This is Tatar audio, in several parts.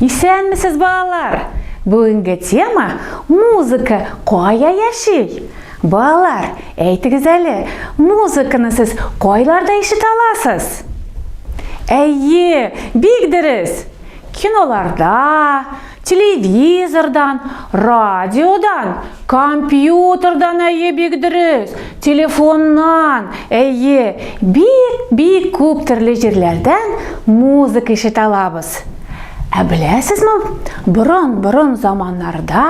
Исәнмесез, балалар! Бүгенге тема музыка кая яши? Балалар, әйтегез әле, музыканы сез кайларда ишетә аласыз? Әйе, бик дөрес. Киноларда, телевизордан, Радиодан, компьютердан әйе бик дөрес, телефоннан әйе, бик-бик күп төрле җирләрдән музыка ишетә алабыз. Ә беләсезме, борын-борын заманнарда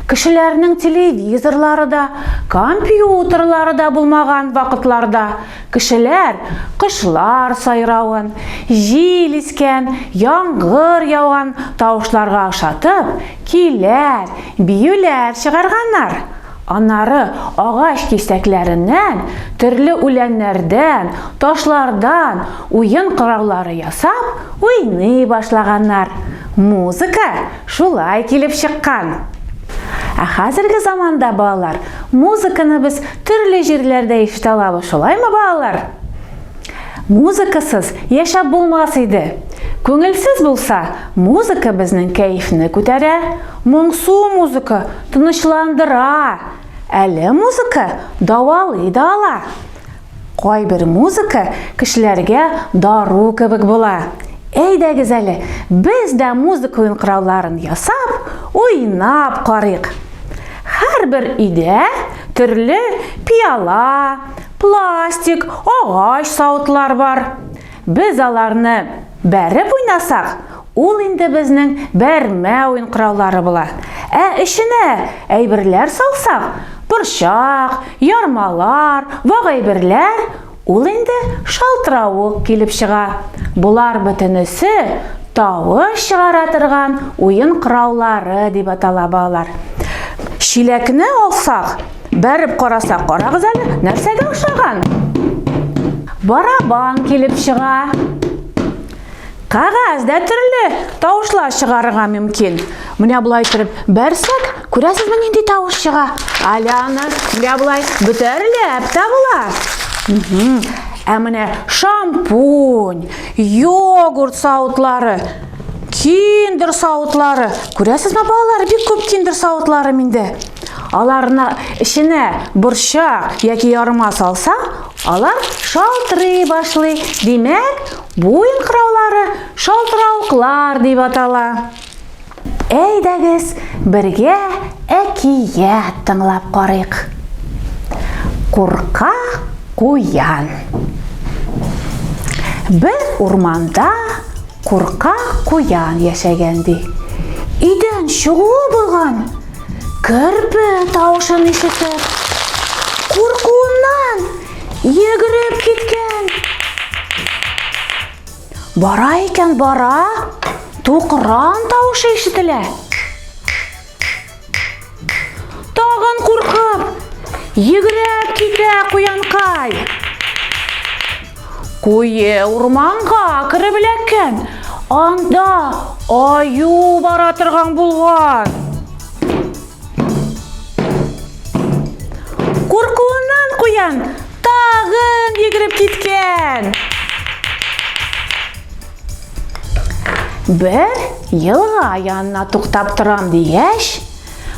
кешеләрнең телевизорлары да, компьютерлары да булмаган вакытларда кешеләр кошлар сайравын, җил искән, яңгыр яуган тавышларга ошатып, Көйләр, биюләр чыгарганнар. Аннары агач кисәкләреннән, төрле үләннәрдән, ташлардан уен кораллары ясап, уйный башлаганнар. Музыка шулай килеп чыккан. Ә хәзерге заманда, балалар, музыканы без төрле җирләрдә ишетә алабыз, шулаймы, балалар? Музыкасыз яшәп булмас иде. Күңелсез булса, музыка безнең кәефне күтәрә. Моңсу музыка тынычландыра. Әле музыка давалый да ала. Кайбер музыка кешеләргә дару кебек була. Әйдәгез әле, без дә музыка уенкырауларын ясап, уйнап карыйк. Һәрбер өйдә төрле пиала, Пластик, агач савытлар бар. Без аларны бәреп уйнасак, ул инде безнең бәрмә уен кораллары була. Ә эченә әйберләр салсак, борчак, ярмалар, вак әйберләр, ул инде шалтыравык килеп чыга. Болар бөтенесе тавыш чыгара торган уен кораллары дип атала балалар. Чиләкне алсак, Бәреп карасак, карагыз әле, нәрсәгә ошаган? Барабан килеп чыга. Кагаз дә төрле тавышлар чыгарырга мөмкин. Менә болай итеп бәрсәк, күрәсезме нинди тавыш чыга? Аляна, менә болай бөтәрләп табыла. Ә менә шампунь, йогурт сауытлары, киндер сауытлары. Күрәсезме балалар, бик күп киндер сауытлары миндә. Аларны эченә борчак яки ярма салса, алар шалтырый башлый. Димәк, бу инкыраулары шалтыравыклар дип атала. Әйдәгез, бергә әкият тыңлап карыйк. Курка куян. Бер урманда курка куян яшәгән ди. Өйдән чыгуы булган. Керпе тавышын ишетеп, куркуыннан йөгереп киткән. Бара икән бара, тукран тавышы ишетелә. Тагын куркып, йөгереп китә куянкай. Куе урманга кереп эләккән. Анда аю бара торган булган. Куркуыннан куян тагын йөгереп киткән. Бер елга янына туктап торам дигәч,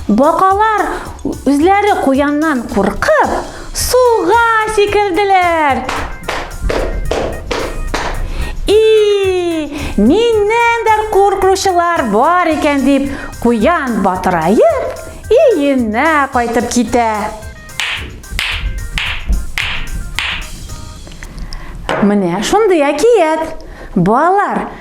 Бакалар үзләре куяннан куркып, суга сикерделәр. И, миннән дә куркучылар бар икән дип, куян батыраеп, өенә кайтып китә. Менә шундый әкият. Балалар,